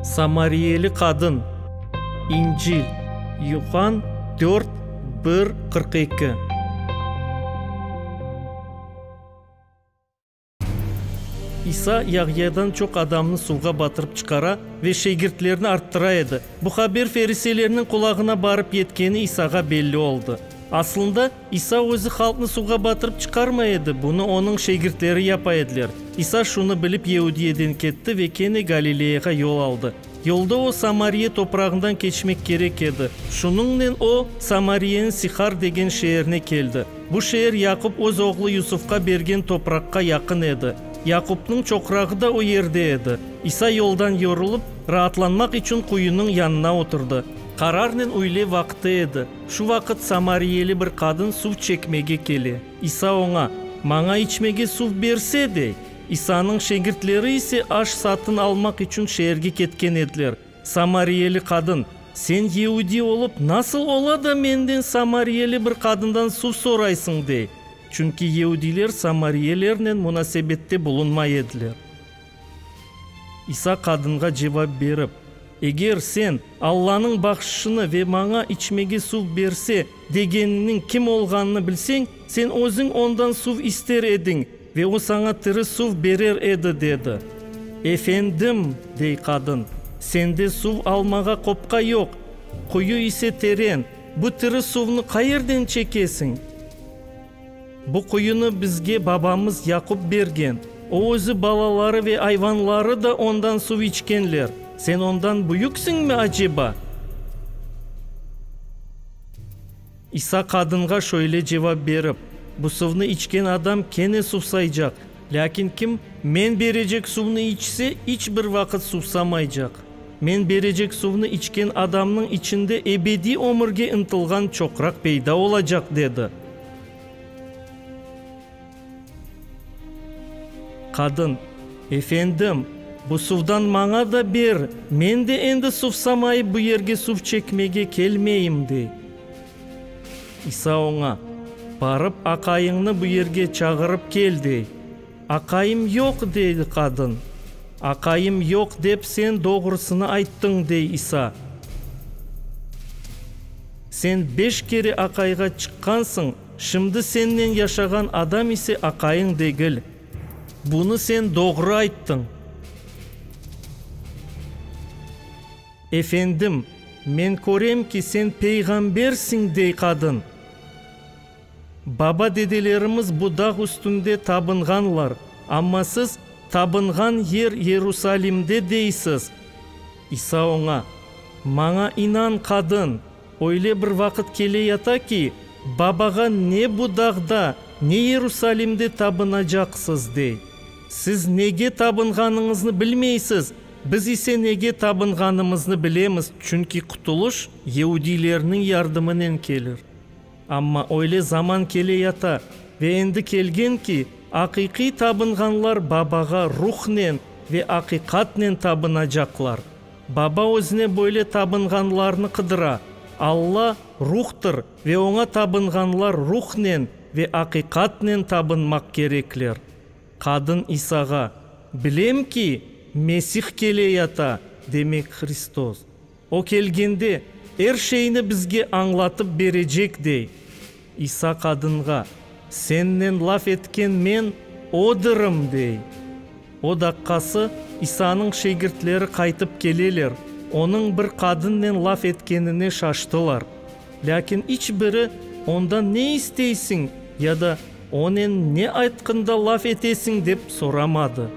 Samariyeli qadın, İncil, Yuhann dört, bir, qırq eki. İsa Yahyadan çoq adamnı suvğa batırıp çıqara ve şegirtlerni arttıra edi. Bu haber feriseylerniñ qulağına barıp yetkeni İsağa belli oldı. Asılında, İsa özü halqnı suvğa batırıp çıqarmay edi, bunı onıñ şegirtleri yapa ediler. İsa şunı bilip Yeudiyeden ketti ve kene Galileyağa yol aldı. Yolda o, Samariya toprağından keçmek kerek edi. Şunıñnen o, Samariyeniñ Sihar degen şeerine keldi. Bu şeer Yaqub öz oğlu Yusufqa bergen topraqqa yaqın edi. Yaqubnıñ çoqrağı da o yerde edi. İsa yoldan yorulıp, raatlanmaq içün quyunıñ yanına oturdı. Qararnen üyle vaqtı edi. Şu vaqıt samariyeli bir qadın suv çekmege kele. İsa oña, Maña içmege suv berse, dey. İsanıñ şegirtleri ise aş satın almaq içün şeerge ketken ediler. Samariyeli qadın, Sen yeudiy olıp, nasıl ola da menden, samariyeli bir qadından suv soraysıñ? dey. Çünki yeudiyler samariyelernen munasebette bulunmay ediler. İsa qadınğa cevap berip, Eger sen, Allanıñ bahşışını ve maña içmege suv berse, degeniniñ kim olğanını bilseñ, sen özüñ ondan suv ister ediñ ve o saña tiri suv berer edi, dedi. Efendim, dey qadın, sende suv almağa qopqa yoq, quyu ise teren, bu tiri suvnı qayerden çekesiñ? Bu quyunı bizge babamız Yaqup bergen. O özü, balaları ve ayvanları da ondan suv içkenler. Sen ondan büyüksiñmi aceba? İsa qadınğa şöyle cevap berip, Bu suvnı içken adam kene suvsaycaq. Lâkin kim men berecek suvnı içse, iç bir vaqıt suvsamaycaq. Men berecek suvnı içken adamnıñ içinde ebediy ömürge ıntılğan çoqraq peyda olacaq, dedi. Qadın, Efendim, bu suvdan maña da ber, men de endi suvsamayıp bu yerge suv çekmege kelmeyim, dey. İsa oña, Barıp, aqayıñnı bu yerge çağırıp kel, dey. Aqayım yoq, dedi qadın. Aqayım yoq, dep sen doğrusını ayttıñ, dey İsa. Sen beş kere aqayğa çıqqansıñ, şimdi sennen yaşağan adam ise aqayıñ degil. Bunı sen doğru ayttıñ. Efendim, men körem ki, sen peyğambersiñ, dey qadın. Baba-dedelerimiz bu dağ üstünde tabınğanlar, amma siz tabınğan yer Yerusalimde deysiz. İsa oña, Maña inan, qadın, öyle bir vaqıt keleyata ki, Babağa ne bu dağda, ne Yerusalimde tabınacaqsız, dey. Siz nege tabınğanıñıznı bilmeysiz, Biz ise nege tabınğanımıznı bilemiz, çünki qutulış yeudilerniñ yardımınen kelir. Amma öyle zaman kele yata ve endi kelgen ki, aqiqiy tabınğanlar Babağa ruhnen ve aqiqatnen tabınacaqlar. Baba özüne böyle tabınğanlarnı qıdıra. Alla, Ruhtır ve oña tabınğanlar ruhnen ve aqiqatnen tabınmaq kerekler. Qadın İsağa, Bilem ki, Mesih keley, Ata, demek Hristos. O kelgende, er şeyni bizge añlatıp berecek, dey. İsa qadınğa, Sennen laf etken men odırım, dey. O daqqası İsanıñ şegirtleri qaytıp keleler, onıñ bir qadınnen laf etkenine şaştılar. Lâkin iç biri ondan ne isteysiñ ya da onen ne aytqında laf etesiñ dep soramadı.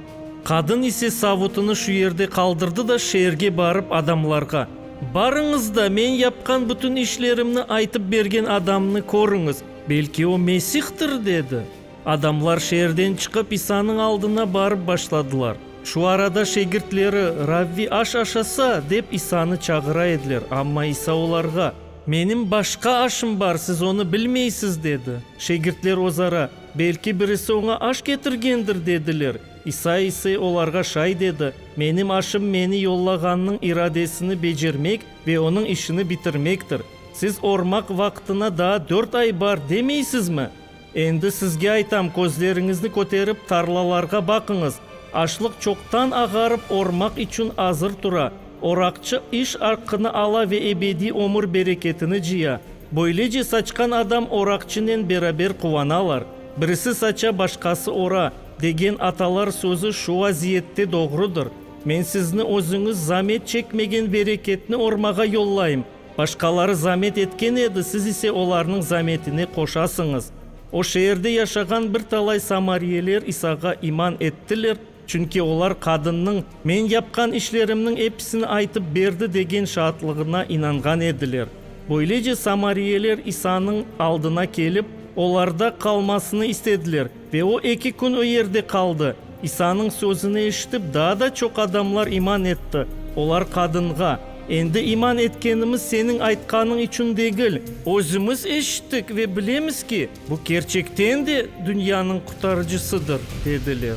Qadın ise savutını şu yerde qaldırdı da şeerge barıp adamlarğa, Barıñız da, men yapqan bütün işlerimni aytıp bergen adamnı körüñiz, belki o Mesihtir, dedi. Adamlar şeerden çıqıp İsanıñ aldına barıp başladılar. Şu arada şegirtleri, Ravvi, aş aşasa! dep İsanı çağıra ediler, amma İsa olarğa, Menim başqa aşım bar, siz onı bilmeysiz, dedi. Şegirtler ozara, Belki birisi oña aş ketirgendir, dediler. İsa ise olarğa şayt edi, Menim aşım meni yollağannıñ iradesini becermek ve onıñ işini bitirmektir. Siz ormaq vaqtına daa dört ay bar demeysizmi? Endi sizge aytam, közleriñizni köterip, tarlalarğa baqıñız. Açlıq çoqtan ağarıp, ormaq içün azır tura. Oraqçı iş aqqını ala ve ebediy ömür bereketini cıya. Böylece saçqan adam oraqçınen beraber quvanalar. Birisi saça, başqası ora, degen atalar sözü şu vaziyette doğrudır. Men sizni özüñiz zamet çekmegen bereketni ormağa yollayım. Başqaları zamet etken edi, siz ise olarnıñ zametine qoşasıñız. O şeerde yaşağan bir talay samariyeler İsağa iman ettiler, çünki olar qadınnıñ, Men yapqan işlerimniñ episini aytıp berdi, degen şaatlığına inanğan ediler. Böylece samariyeler İsanıñ aldına kelip, olarda qalmasını istediler. Ve o eki kün o yerde qaldı. İsanıñ sözüni eşitip, daa da çoq adamlar iman etti. Olar qadınğa, Endi iman etkenimiz seniñ aytqanıñ içün degil. Özümiz eşittik ve bilemiz ki, bu kerçekten de dünyanıñ Qutarıcısıdır, dediler.